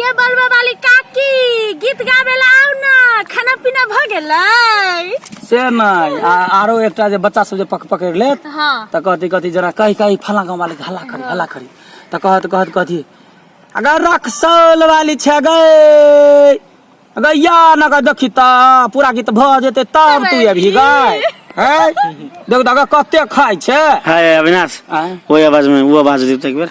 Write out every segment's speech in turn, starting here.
ये बलबा वाली काकी गीत गाबे ला आउ ना खाना पीना भ गेलै से नहीं आ, आरो एकटा जे बच्चा सब जे पक पकड़ लेत हाँ त कहती कहती जना कही कही फला गाँव वाले के हल्ला करी हल्ला करी त कहत कहत कहती अगर रक्सौल वाली छे गए अगर या न कर देखी त पूरा गीत भ जेते तब तू अभी गए हैं देख दगा कते खाय छे हाय अविनाश आँय? ओहि आवाज में वो आवाज देते एक बेर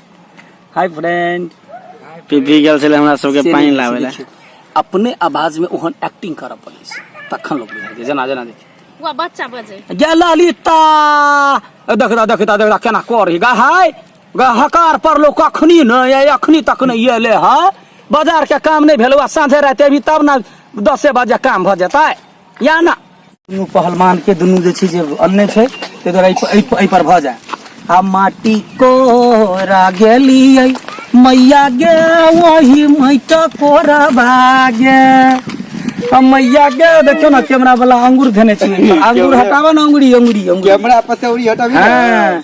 हाय फ्रेंड पीपी गेल छलै हमरा सबके से पानि नहि लाबै लए देखियौ। अपने आवाज में ओहन एक्टिंग करऽ पड़ै छै तखन लोग बुझै छै जेना जेना देखियौ वह बच्चा बजे गे ललिता ए, देख दा देख दा देख दा केना करही गा हाय गा हकार पर लोग अखनी नहि आय अखनी तक नहि एले है बाजार के काम नहि भेलौ आ साँझे राति अभी तब ने दसे बजे काम भऽ जेतै या ना दुनू पहलमान के दुनू जे छै जे अन्ने छै ताहि दुआरे एहि- एहि एहि पर भऽ जाय आ माटी कोरा गेलियै मैया गे वही मैट कोरा बागे आ मैया गे देखियौ ने कैमरा वाला अंगूर धने छै अंगूर हटाबऽ ने अंगुरी अंगुरी अंगुरी कैमरा पतौरी हटाबी हाँ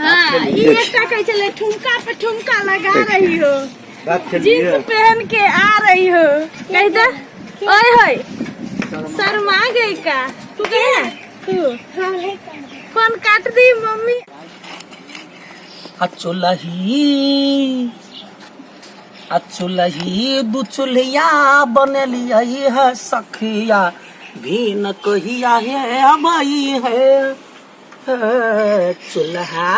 हाँ ई एकटा कहै छलै ठुमका पे ठुमका लगा रही हो जींस पहन के आ रही हो कह दे ओए होए शर्मा गई का तू कहे ना तू फोन काट दी मम्मी अचुलही अचुलही दू चुल्हिया बनलिया है सखिया भीन कहिया है अबई है अ, चूल्हा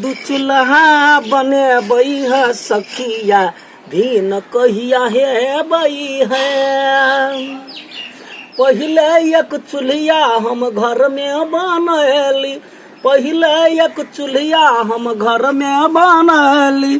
दू चूल्हा बनेबै है सखिया भीन कहिया हेबै है पहिले एक चूल्हिया हम घर में बनैली पहिले एक चूल्हिया हम घर में बनैली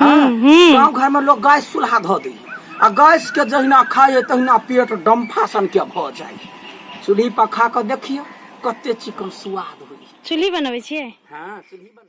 हाँ, गाँव घर में लोग गैस चूल्हा धो दी आ गैस के जहिना खाए तहिना पेट डम्फा सन के भ जाए चूल्ही पर खा के देखियो कते चिकन स्वाद होई चूल्ही बनबै छियै हाँ चूल्ही बन-